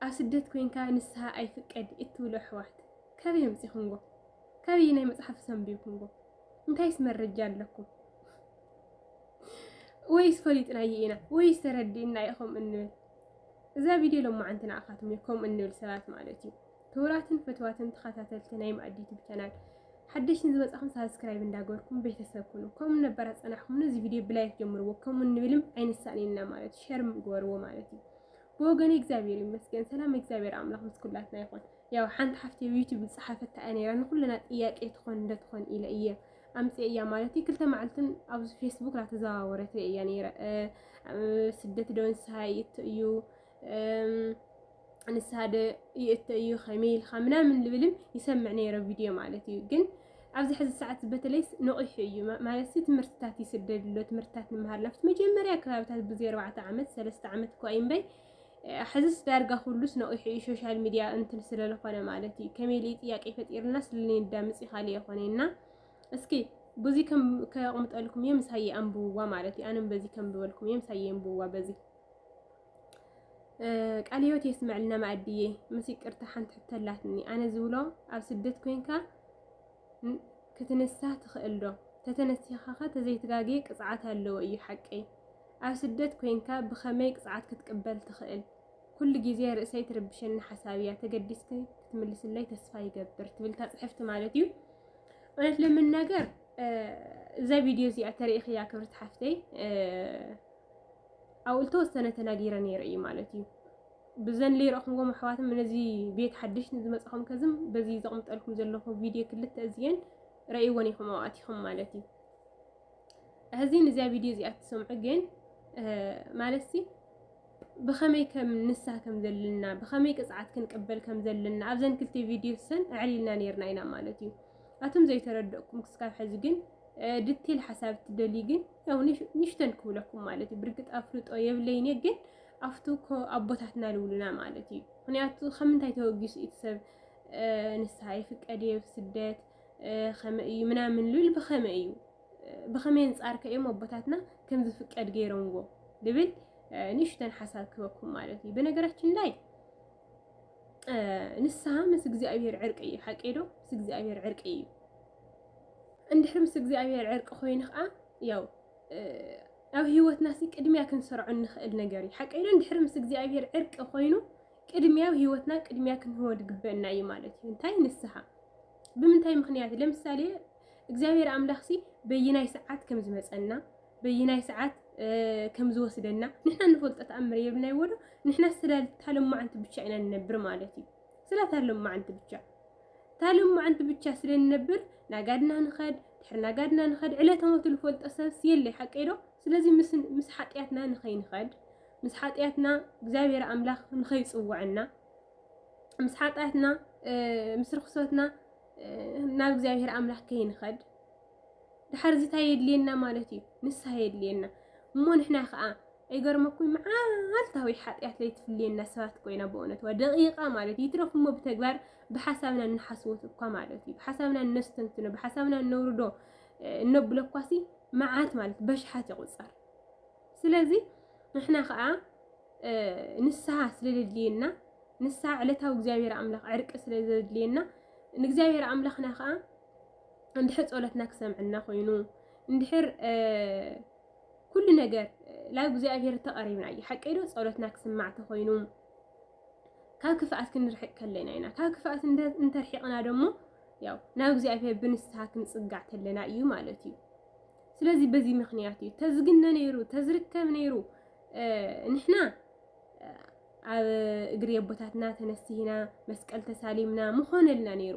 ኣብ ስደት ኮንካ ንስሃ ኣይፍቀድ እትብሉ ኣሕዋት ካበይ ኣምጺኹምዎ ካበየናይ መጽሓፍስ ኣንቢብኩምዎ እንታይስ መረጃ ኣለኩም ወይስ ፈሊጥናዮ ኢና ወይስ ተረዲእና ኢኹም እንብል እዛ ቪድዮ ሎማዓንቲ ንዓኻትኩም እዩ ከምኡ እንብል ሰባት ማለት እዩ ክቡራትን ፍትዋትን ተኸታተልቲ ናይ ማእዲ ዩቱብ ቻናል ሓደሽትን ዝመጻኹም ሳብስክራይብ እንዳገበርኩም ቤተሰብ ኩኑ ከምኡ ነበራ ጸናሕኩም ነዚ ቪድዮ ብላይክ ጀምርዎ ከምኡ እንብልም ኣይንሳእን ኢና ማለት ሸር ግበርዎ ማለት እዩ ብወገኒ እግዚኣብሔር ይመስገን ሰላም እግዚኣብሔር ኣምላኽ ምስ ኩላትና ይኹን። ያው ሓንቲ ሓፍቲ ዩቲዩብ ዝፀሓፈታ እያ ነይራ ንኩልና ጥያቄ ትኾን እንደትኾን ኢለ እየ ኣምፅ እያ ማለት እዩ ክልተ መዓልትን ኣብዚ ፌስቡክ ናተዘዋወረት ሪአ እያ ነይረ ስደት ዶ ንስሃ ይእቱ እዩ ንስሃ ዶ ይእቱ እዩ ከመይ ኢልካ ምናምን ልብልም ይሰምዕ ነይረ ቪድዮ ማለት እዩ ግን ኣብዚ ሕዚ ሰዓት በተለይስ ነቒሑ እዩ ማለትሲ ትምህርትታት ይስደድ ኣሎ ትምህርትታት ንምሃር ናብቲ መጀመርያ ከባብታት ብዘይ ኣርባዕተ ዓመት ሰለስተ ዓመት እኳ እዩ እምበይ ሕዝስ ዳርጋ ኩሉስ ነቒሑ እዩ ሶሻል ሚድያ እንትን ስለለኾነ ማለት እዩ ከመይ ልይ ጥያቄ ፈጢርና ስለንዳምፅ ይኻል የኾነና እስኪ ብዙ ከቕምጠልኩም እየ ምሳየ ኣንብብዋ ማለት እዩ ኣነም በዚ ከምብበልኩም እየ ምሳየ ኣንብብዋ በዚ ቃል ህይወት የስመዐልና ማኣድዬ ምስ ይቅርታ ሓንቲ ሕቶ ኣላትኒ ኣነ ዝብሎ ኣብ ስደት ኮንካ ክትንሳ ትኽእል ዶ ተተነሲኻ ኸ ተዘይትጋጌ ቅፅዓት ኣለዎ እዩ ሓቀይ ኣብ ስደት ኮንካ ብኸመይ ቅፅዓት ክትቅበል ትኽእል ኩሉ ግዜ ርእሰይ ትርብሸኒ ሓሳብ እያ ተገዲስኪ ክትምልስለይ ተስፋ ይገብር ትብል ታፅሕፍቲ ማለት እዩ እውነት ለመናገር እዛ ቪድዮ እዚኣ ተሪኢኽያ ክብርቲ ሓፍተይ ኣብኡ ዝተወሰነ ተናጊረ ነይረ እዩ ማለት እዩ ብዘን ለይረእኹምዎም ኣሕዋትም ነዚ ቤት ሓድሽ ንዝመፅኹም ከዝም በዚ ዘቕምጠልኩም ዘለኹ ቪድዮ ክልተ እዝየን ረእይወን ኢኹም ኣዋእቲኹም ማለት እዩ ሕዚን እዚያ ቪድዮ እዚኣ ትሰምዑ ግን ማለት ሲ ብኸመይ ከም ንሳ ከም ዘለና ብኸመይ ቅፅዓት ክንቅበል ከም ዘለና ኣብዘን ክልተ ቪድዮ ሰን ኣዕሊልና ነርና ኢና ማለት እዩ ኣቱም ዘይተረድእኩም ክስካብ ሕዚ ግን ድቴል ሓሳብ ትደልዩ ግን ያው ንሽተን ክብለኩም ማለት እዩ ብርግጥ ኣፍልጦ የብለይን እየ ግን ኣብቲ እኮ ኣቦታትና ልብሉና ማለት እዩ ምክንያቱ ከም እንታይ ተወጊሱ እቲ ሰብ ንስሓ ይፍቀድ እየ ስደት ከመይ እዩ ምናምን ልብል ብኸመይ እዩ ብኸመይ ኣንፃር ከእዮም ኣቦታትና ከም ዝፍቀድ ገይሮምዎ ልብል ንእሽተን ሓሳብ ክበኩም ማለት እዩ በነገራችን ላይ ንስሓ ምስ እግዚኣብሔር ዕርቂ እዩ ሓቂ ዶ ምስ እግዚኣብሔር ዕርቂ እዩ እንድሕር ምስ እግዚኣብሔር ዕርቂ ኮይኑ ከዓ ያው ኣብ ህይወትና ሲ ቅድሚያ ክንሰርዖ እንኽእል ነገር እዩ ሓቀይ ዶ እንድሕር ምስ እግዚኣብሔር ዕርቂ ኮይኑ ቅድሚያ ኣብ ህይወትና ቅድሚያ ክንህቦ ዝግበአና እዩ ማለት እዩ እንታይ ንስሓ ብምንታይ ምክንያት ለምሳሌ እግዚኣብሔር ኣምላኽ ሲ በይናይ ሰዓት ከም ዝመፀና በይናይ ሰዓት ከም ዝወስደና ንሕና ንፈልጦ ተኣምር የብልናይ ወዶ ንሕና ስለ ታለማዓንቲ ብቻ ኢና ንነብር ማለት እዩ ስለ እታ ሎማዕንቲ ብቻ እታ ሎማዕንቲ ብቻ ስለ ንነብር ናጋድና ንኸድ ድሕሪ ናጋድና ንኸድ ዕለተ ሞቱ ዝፈልጦ ሰብስ የለይ ሓቀይ ዶ ስለዚ ምስ ሓጢኣትና ንኸይንኸድ ምስ ሓጢኣትና እግዚኣብሔር ኣምላኽ ንኸይፅውዐና ምስ ሓጢኣትና ምስ ርክሰትና ናብ እግዚኣብሔር ኣምላኽ ከይንኸድ ድሓር እዚታ የድልየና ማለት እዩ ንስሓ የድልየና እሞ ንሕና ከዓ ኣይገርመኩይ መዓልታዊ ሓጢኣት ለይትፍልየና ሰባት ኮይና ብእውነት ዋ ደቂቃ ማለት እዩ ይትረፍ እሞ ብተግባር ብሓሳብና እንሓስወት እኳ ማለት እዩ ብሓሳብና እነስተንትኖ ብሓሳብና እነውርዶ እነብሎ እኳሲ መዓት ማለት በሽሓት ይቁፀር ስለዚ ንሕና ከዓ ንስሓ ስለዘድልየና ንስሓ ዕለታዊ እግዚኣብሔር ኣምላኽ ዕርቂ ስለዘድልየና ንእግዚኣብሔር ኣምላኽና ከዓ እንድሕር ፀሎትና ክሰምዐና ኮይኑ እንድሕር ኩሉ ነገር ላብ እግዚኣብሔር ተቐሪብና እዩ ሓቀይ ዶ ጸሎትና ክስማዕ ተኾይኑ ካብ ክፍኣት ክንርሕቅ ከለና ኢና ካብ ክፍኣት እንተርሒቕና ደሞ ያው ናብ እግዚኣብሔር ብንስሓ ክንጽጋዕ ከለና እዩ ማለት እዩ ስለዚ በዚ ምክንያት እዩ ተዝግነ ነይሩ ተዝርከብ ነይሩ ንሕና ኣብ እግሪ ኣቦታትና ተነሲህና መስቀል ተሳሊምና ምኾነልና ነይሩ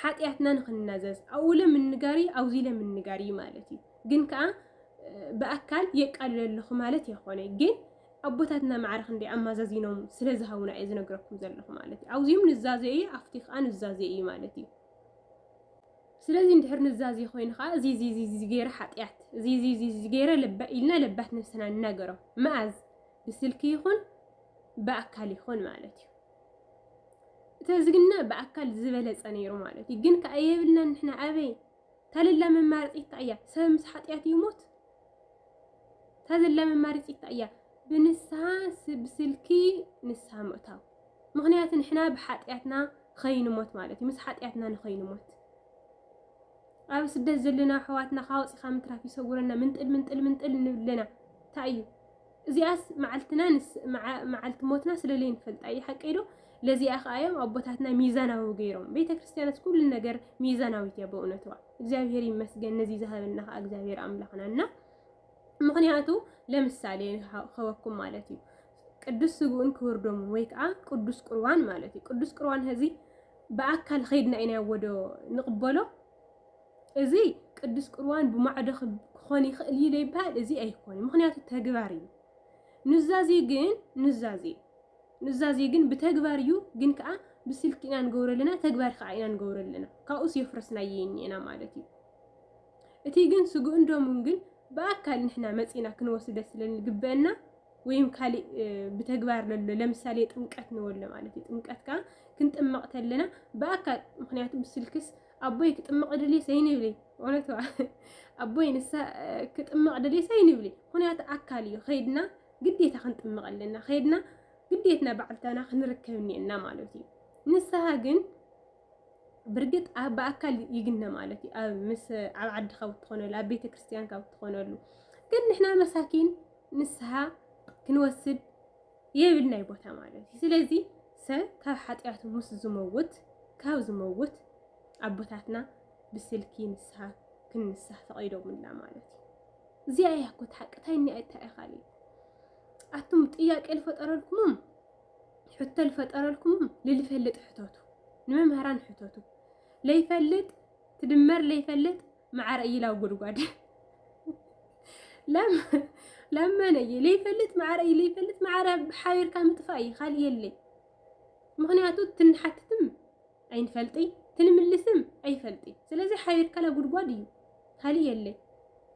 ሓጢኣትና ንኽንናዘዝ ኣብኡ ኢለ ምንጋር እዩ ኣብዚ ኢለ ምንጋር እዩ ማለት እዩ ግን ከዓ ብኣካል የቃልለ ኣለኹ ማለት የኾነ ግን ኣቦታትና ማዕረ ክንደይ ኣማዛዚኖም ስለ ዝሃቡና እየ ዝነግረኩም ዘለኹ ማለት እዩ ኣብዚኦም ንዛዘ እዩ ኣብቲ ከዓ ንዛዘ እዩ ማለት እዩ ስለዚ እንድሕር ንዛዘ ኮይኑ ከዓ እዚ እዚ እዚ እዚ ገይረ ሓጢኣት እዚ እዚ እዚ እዚ ገይረ ለባ ኢልና ለባት ነብስና ንናገሮም መኣዝ ብስልኪ ይኹን ብኣካል ይኹን ማለት እዩ ተዝግነ ብኣካል ዝበለጸ ነይሩ ማለት እዩ። ግን ከኣ የብልናን ንሕና ኣበይ ታለላ መማረጺት ከኣ እያ ሰብ ምስ ሓጢኣት ይሙት ታዘላ መማረጺት ከኣ እያ ብንስሓ ብስልኪ ንስሓ ምእታው ምክንያቱ ንሕና ብሓጢኣትና ኸይንሞት ማለት እዩ ምስ ሓጢኣትና ንኸይንሞት ኣብ ስደት ዘለና ኣሕዋትና ካወፂኻ ምትራፍ ይሰውረና ምንጥል ምንጥል ምንጥል ንብለና እንታይ እዩ እዚኣስ መዓልትና መዓልቲ ሞትና ስለለይንፈልጣ እዩ ሓቀይ ዶ ለዚኣ ከዓ እዮም ኣቦታትና ሚዛናዊ ገይሮም ቤተ ክርስቲያንስ ኩሉ ነገር ሚዛናዊት እያ በእውነትዋ እግዚኣብሔር ይመስገን ነዚ ዝሃበና ከዓ እግዚኣብሔር ኣምላኽና እና ምክንያቱ ለምሳሌ ከወኩም ማለት እዩ ቅዱስ ስግኡን ክቡር ደሙን ወይ ከዓ ቅዱስ ቁርባን ማለት እዩ ቅዱስ ቁርባን ህዚ ብኣካል ከይድና ኢና ወዶ ንቕበሎ እዚ ቅዱስ ቁርባን ብማዕዶ ክኾን ይኽእል እዩ ዘይበሃል እዚ ኣይኮነ ምክንያቱ ተግባር እዩ ኑዛዜ ግን ኑዛዜ ኑዛዜ ግን ብተግባር እዩ ግን ከዓ ብስልኪ ኢና ንገብሮ ኣለና ተግባር ከዓ ኢና ንገብሮ ኣለና ካብኡስ የፍረስናየ እኒኤና ማለት እዩ እቲ ግን ስግኡን ደሙን ግን ብኣካል ንሕና መፂና ክንወስደ ስለንግበአና ወይም ካሊእ ብተግባር ለሎ ለምሳሌ ጥምቀት ንበሎ ማለት እዩ። ጥምቀት ከዓ ክንጥመቕ ተለና ብኣካል ምክንያቱ ብስልክስ ኣቦይ ክጥመቕ ድልየ ሰይን ይብለይ እውነት ኣቦይ ንሳ ክጥመቕ ድልየ ሰይን ይብለይ ምክንያቱ ኣካል እዩ ከይድና ግዴታ ክንጥመቕ ኣለና ከይድና ግዴትና ባዕልታና ክንርከብ እኒኤና ማለት እዩ። ንስሃ ግን ብርግጽ ኣብ ብኣካል ይግነ ማለት እዩ ኣብ ምስ ኣብ ዓድኻ ብትኾነሉ ኣብ ቤተ ክርስቲያን ካብ ትኾነሉ ግን ንሕና መሳኪን ንስሓ ክንወስድ የብልናይ ቦታ ማለት እዩ ስለዚ ሰብ ካብ ሓጢኣቱ ምስ ዝመውት ካብ ዝመውት ኣቦታትና ብስልኪ ንስሓ ክንንሳሕ ፈቒዶምና ማለት እዩ እዚኣ እያ ኮት ሓቂ እንታይ እኒኣ እንታይ እያ ካልእ ኣቱም ጥያቄ ዝፈጠረልኩምም ሕቶ ልፈጠረልኩም ልልፈልጥ ሕተቱ ንመምህራን ሕተቱ ለይፈልጥ ትድመር ለይፈልጥ መዓረ እይላው ጉድጓድ ለመነ እየ ለይፈልጥ መዓረ እዩ ለይፈልጥ መዓረ ሓቢርካ ምጥፋእ እዩ ካልእ የለይ ምክንያቱ ትንሓትትም ኣይንፈልጢ ትንምልስም ኣይፈልጢ ስለዚ ሓቢርካላ ጉድጓድ እዩ ካልእ የለይ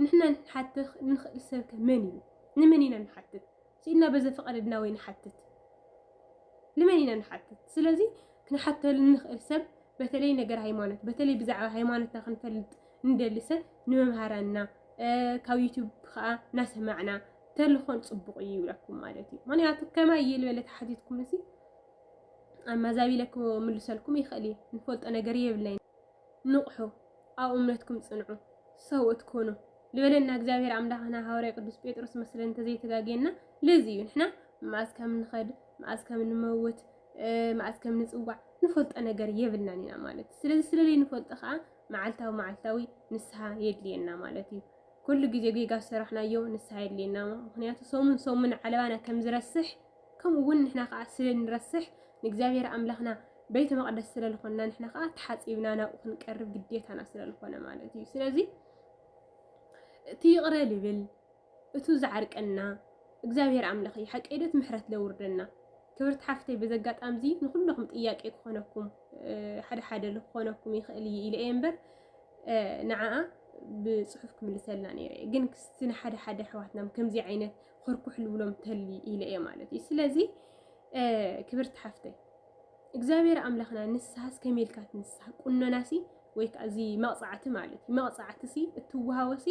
ንሕና ንሓትኽ ንኽእል ሰብከ መን እዩ ንመን ኢና ንሓትት ስኢንና በዚ ፍቐደልና ወይ ንሓትት ንመን ኢና ንሓትት ስለዚ ክንሓተሉ ንኽእል ሰብ በተለይ ነገር ሃይማኖት በተለይ ብዛዕባ ሃይማኖትና ክንፈልጥ እንደሊ ሰብ ንመምሃራንና ካብ ዩቱብ ከዓ ናሰማዕና ተልኾን ፅቡቕ እዩ ይብለኩም ማለት እዩ ምክንያቱ ከማይ እየ ልበለ ተሓቲትኩም እዚ ኣማዛቢለ ክምልሰልኩም ይኽእል እዩ ንፈልጦ ነገር የብለይ ንቕሑ ኣብ እምነትኩም ጽንዑ ሰብኡት ኩኑ ልበለና እግዚኣብሔር ኣምላኽና ሃዋርያ ቅዱስ ጴጥሮስ መስለን እንተዘይተጋጌና ለዚ እዩ ንሕና መኣዝ ከም ንኸድ መኣዝ ከም ንመውት መኣዝ ከም ንጽዋዕ ንፈልጦ ነገር የብልናን ኢና ማለት እዩ ስለዚ ስለለይ ንፈልጦ ከዓ መዓልታዊ መዓልታዊ ንስሓ የድልየና ማለት እዩ ኩሉ ግዜ ጌጋ ዝሰራሕናዮ ንስሓ የድልየና ምክንያቱ ሰሙን ሰሙን ዓለባና ከም ዝረስሕ ከምኡ ውን ንሕና ከኣ ስለ ንረስሕ ንእግዚኣብሄር ኣምላኽና ቤተ መቅደስ ስለ ልኾንና ንሕና ከኣ ተሓጺብና ናብኡ ክንቀርብ ግዴታና ስለ ልኾነ ማለት እዩ ስለዚ እቲ ይቕረ ልብል እቱ ዝዓርቀና እግዚኣብሄር ኣምላኽ እዩ ሓቀይ ዶት ምሕረት ለውርደና ክብርቲ ሓፍተይ በዚ ኣጋጣሚ እዚ ንኩለኹም ጥያቄ ክኾነኩም ሓደ ሓደ ልኾነኩም ይኽእል እዩ ኢለ እየ እምበር ንዓኣ ብፅሑፍ ክምልሰልና ነይረ ግን ክስቲ ንሓደ ሓደ ኣሕዋትናም ከምዚ ዓይነት ኮርኩሕ ልብሎም ተሊ ኢለ እየ ማለት እዩ። ስለዚ ክብርቲ ሓፍተይ እግዚኣብሔር ኣምላኽና ንስሓስ ከመይ ኢልካ ትንስሓ ቁኖናሲ ወይ ከዓ እዚ መቕፃዕቲ ማለት እዩ መቕፃዕቲሲ እትወሃወሲ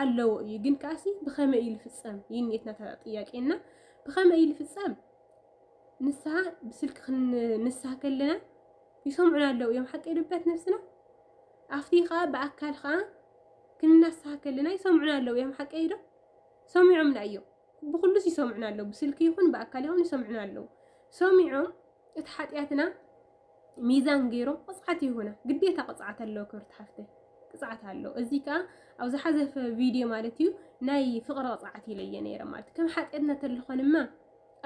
ኣለዎ እዩ ግን ከዓሲ ብኸመይ እዩ ዝፍፀም ይንየትና ጥያቄና ብኸመይ እዩ ዝፍፀም ንስሓ ብስልኪ ክንንስሓ ከለና ይሰምዑና ኣለዉ እዮም ሓቂ ልበት ነብስና ኣብቲ ከዓ ብኣካል ከዓ ክንናስሓ ከለና ይሰምዑና ኣለዉ እዮም ሓቂ ዶ ሰሚዖምና እዮም ብኹሉስ ይሰምዑና ኣለዉ ብስልኪ ይኹን ብኣካል ይኹን ይሰምዑና ኣለዉ ሰሚዖም እቲ ሓጢኣትና ሚዛን ገይሮም ቅፅዓት ይሁና ግዴታ ቅፅዓት ኣለዎ ክብርቲ ሓፍተይ ቅፅዓት ኣሎ እዚ ከዓ ኣብ ዝሓዘፈ ቪድዮ ማለት እዩ ናይ ፍቕሪ ቅፅዓት ኢለየ ነይረ ማለት ከም ሓጢኣትና ተለኾንማ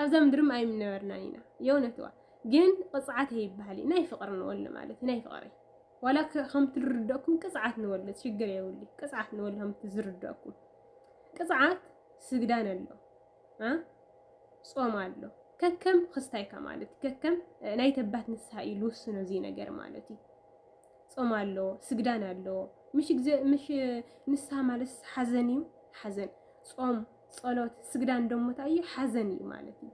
ኣብዛ ምድርም ኣይምነበርናን ኢና የእውነትዋ ግን ቅፅዓት ይበሃል ናይ ፍቕሪ ንወሉ ማለት ናይ ፍቕሪ ዋላ ከምቲ ዝርደኩም ቅፅዓት ንወልድ ሽግር የብሉ ቅፅዓት ንወልድ ከምቲ ዝርደኩም ቅፅዓት ስግዳን ኣሎ ጾም ኣሎ ከከም ክስታይካ ማለት እዩ ከከም ናይ ተባት ንስሓ እዩ ልውስኖ እዚ ነገር ማለት እዩ ጾም ኣሎ ስግዳን ኣሎ ምሽ ግዜ ምሽ ንስሓ ማለት ሓዘን እዩ ሓዘን ጾም ጸሎት ስግዳን ደሞ እንታይ እዩ ሓዘን እዩ ማለት እዩ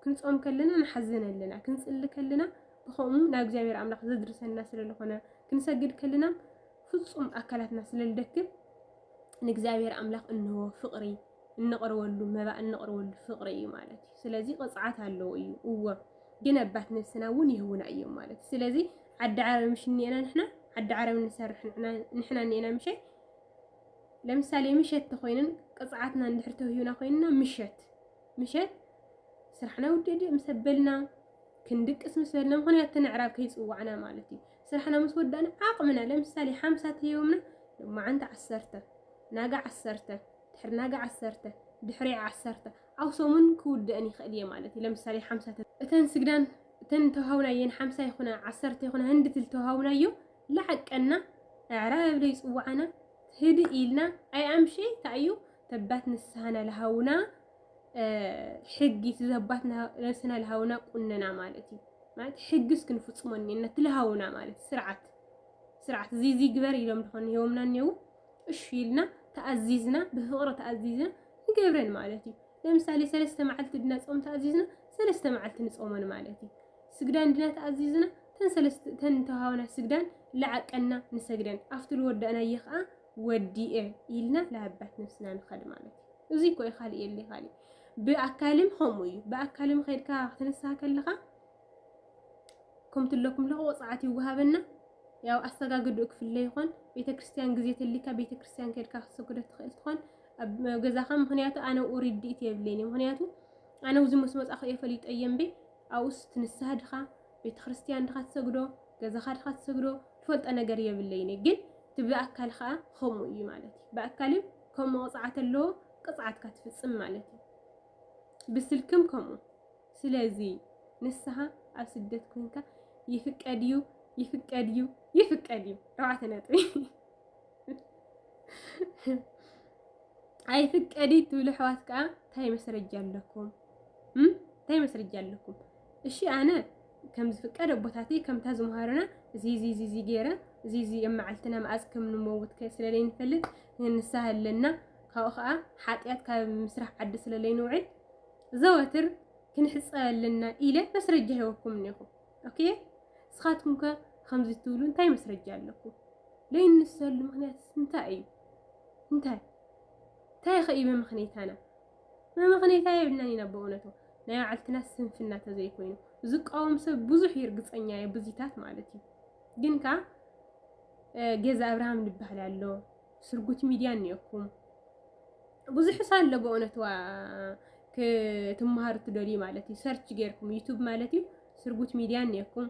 ክንጾም ከለና ንሓዘን ኣለና ክንጽሊ ከለና ብኸምኡ ናብ እግዚኣብሔር ኣምላኽ ዘድርሰና ስለ ልኾነ ክንሰግድ ከልና ፍጹም ኣካላትና ስለ ልደክም ንእግዚኣብሔር ኣምላኽ እንሆ ፍቕሪ እንቕርበሉ መባእ እንቕርበሉ ፍቕሪ እዩ ማለት እዩ። ስለዚ ቅፅዓት ኣለዎ እዩ እዎ ግን ኣባት ነብስና እውን ይህቡና እዮም ማለት እዩ። ስለዚ ዓዲ ዓረብ ምሽ እኒኤና ንሕና ዓዲ ዓረብ ንሰርሕ ንሕና እኒኤና ምሸት ለምሳሌ ምሸት ተኮይንን ቅፅዓትና እንድሕር ተውሂብና ኮይንና ምሸት ምሸት ስራሕና ውድእ ምስ ኣበልና ክንድቅስ ምስ በልና ምክንያት እቲ ምዕራብ ከይጽዋዕና ማለት እዩ ስራሕና ምስ ወዳእና ዓቕምና ለምሳሌ ሓምሳ ተሂቦምና ሎማዓንቲ ዓሰርተ ናጋ ዓሰርተ ድሕሪ ናጋ ዓሰርተ ድሕሪ ዓሰርተ ኣብ ሰሙን ክውደእን ይኽእል እየ ማለት እዩ ለምሳሌ ሓምሳ እተን ስግዳን እተን ተዋሃብናየን ሓምሳ ይኹና ዓሰርተ ይኹና ህንዲ ትል ተዋሃብናዮ ላዓቀና ኣዕራብ ለይ ፅዋዓና ህድእ ኢልና ኣይ ኣምሸ ታዩ ተባት ንስሃና ልሃውና ሕጊ እቲ ዘባትና ነብስና ልሃውና ቁንና ማለት እዩ ማለት ሕጊ እስኪ ንፍፅሞ እኒና እቲ ልሃውና ማለት ስርዓት ስርዓት እዚ እዚ ግበር ኢሎም ድኾን ሂቦምና እኒው እሺ ኢልና ተኣዚዝና ብፍቕሪ ተኣዚዝና ንገብረን ማለት እዩ ለምሳሌ ሰለስተ መዓልቲ ድና ፆም ተኣዚዝና ሰለስተ መዓልቲ ንፆመን ማለት እዩ ስግዳን ድና ተኣዚዝና ተን ሰለስተ ተን ተሃውና ስግዳን ልዓቀና ንሰግደን ኣብቲ ልወዳእናየ ከዓ ወዲኤ ኢልና ላባት ነብስና ንኸድ ማለት እዩ። እዙይ እኮ እዩ ካሊእ የለ ካሊእ ብኣካልም ከምኡ እዩ። ብኣካልም ከድካ ክትንስሃ ከለኻ ከምቲ ኣለኩም ኣለኹ ወፅዓት ይወሃበና ያው ኣሰጋግድኡ ክፍለ ይኾን ቤተ ክርስቲያን ግዜ ተሊካ ቤተ ክርስቲያን ከድካ ክትሰግዶ ትኽእል ትኾን ኣብ ገዛኻ ምክንያቱ ኣነ ኣብኡ ርድኢት የብለይን ምክንያቱ ኣነ ኣብዚ ምስ መፃኹ እየ ፈሊጠ እየ እምበይ ኣብኡስ ትንስሃ ድኻ ቤተክርስትያን ድኻ ትሰግዶ ገዛኻ ድኻ ትሰግዶ ትፈልጦ ነገር የብለይን ግን እቲ ብኣካል ከዓ ከምኡ እዩ ማለት እዩ ብኣካል እዩ ከምኡ ቅፅዓት ኣለዎ ቅፅዓትካ ትፍፅም ማለት እዩ ብስልክም ከምኡ ስለዚ ንስኻ ኣብ ስደት ኮንካ ይፍቀድ እዩ ይፍቀድ እዩ ይፍቀድ እዩ ረብዓተ ነጥቢ ኣይፍቀድ ትብሉ ኣሕዋት ከዓ እንታይ መስረጃ ኣለኩም እንታይ መስርጃ ኣለኩም? እሺ ኣነ ከም ዝፍቀድ ኣቦታተይ ከምታ ዝምሃሩና እዚ እዚ እዚ ገይረ እዚ እዚ ኣብ መዓልትና መዓዝ ከም ንመውት ስለ ዘይንፈልጥ ንስሃ ኣለና ካብኡ ከዓ ሓጢኣት ካብ ምስራሕ ዓዲ ስለ ዘይንውዕል ዘወትር ክንሕፀብ ኣለና ኢለ መስረጃ ሂበኩም እኒኹ ኦኬ ንስኻትኩም ከ ከምዚ ትብሉ እንታይ መስረጃ ኣለኩም? ዘይንሰሉ ምክንያት እንታይ እዩ? እንታይ እንታይ ከ እዩ መምክንየታና? መመኽነይታ የብልናን ኢና በእውነቱ ናይ ባዕልትና ስንፍና ተዘይኮይኑ ዝቃወም ሰብ ብዙሕ እዩ እርግፀኛ እየ ብዙታት ማለት እዩ ግን ከ ገዛ ኣብርሃም ዝበሃል ኣሎ ስርጉት ሚድያ እኒኦኩም ብዙሕ ሳለ በእውነት ዋ ክትመሃሩ ትደልዩ ማለት እዩ ሰርች ጌርኩም ዩቱብ ማለት እዩ ስርጉት ሚድያ እኒኦኩም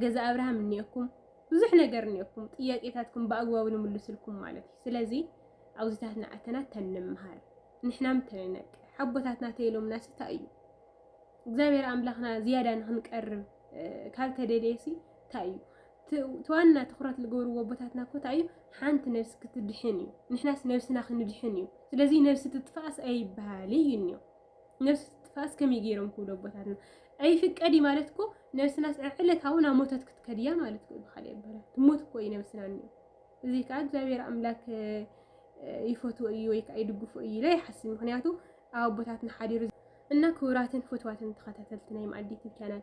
ገዛ ኣብርሃም እኒኦኩም ብዙሕ ነገር እኒኦኩም ጥያቄታትኩም ብኣግባቡ ንምልስልኩም ማለት እዩ ስለዚ ኣውዚታት ንዓተና ተንምሃር ንሕናም ተንነቅ ሓቦታትና ተይሎምና ስታ እዩ እግዚኣብሔር ኣምላኽና ዝያዳ ንክንቀርብ ካብ ተደልየሲ እንታይ እዩ ትዋና ትኩረት ዝገብርዎ ኣቦታትና እኮ እንታይ እዩ ሓንቲ ነብሲ ክትድሕን እዩ ንሕናስ ነብስና ክንድሕን እዩ ስለዚ ነብሲ ትጥፋእስ ኣይበሃል እዩ እኒኦ ነብሲ ትጥፋእስ ከመይ ገይሮም ክብሉ ኣቦታትና ኣይፍቀድ እዩ ማለት እኮ ነብስናስ ዕለታዊ ናብ ሞተት ክትከድያ ማለት እኮ ብካልእ ይበሃል ትሞት እኮ እዩ ነብስና እኒኦ እዚ ከዓ እግዚኣብሔር ኣምላክ ይፈትዎ እዩ ወይ ከዓ ይድግፎ እዩ ኢለ ይሓስብ ምክንያቱ ኣብ ኣቦታትና ሓዲሩ እና ክቡራትን ፍትዋትን ተኸታተልቲ ናይ መኣዲ ዩቱብ ቻናል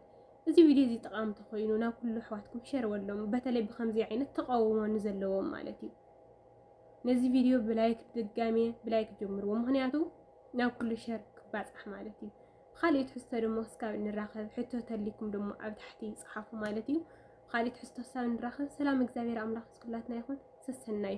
እዚ ቪድዮ እዚ ጠቃሚ ተኮይኑ ናብ ኩሉ ኣሕዋትኩም ሸር ወሎም በተለይ ብከምዚ ዓይነት ተቃውሞ ንዘለዎም ማለት እዩ ነዚ ቪድዮ ብላይክ ድጋሜ ብላይክ ጀምርዎ ምክንያቱ ናብ ኩሉ ሸር ክባፃሕ ማለት እዩ ብካልእ ትሕዝቶ ድማ እስካብ እንራኸብ ሕቶ ተሊኩም ድማ ኣብ ታሕቲ ይፅሓፉ ማለት እዩ ብኻልእ ትሕዝቶ ክሳብ ንራኸብ ሰላም እግዚኣብሔር ኣምላኽ ምስ ኩላትና ይኹን። ሰሰናዩ!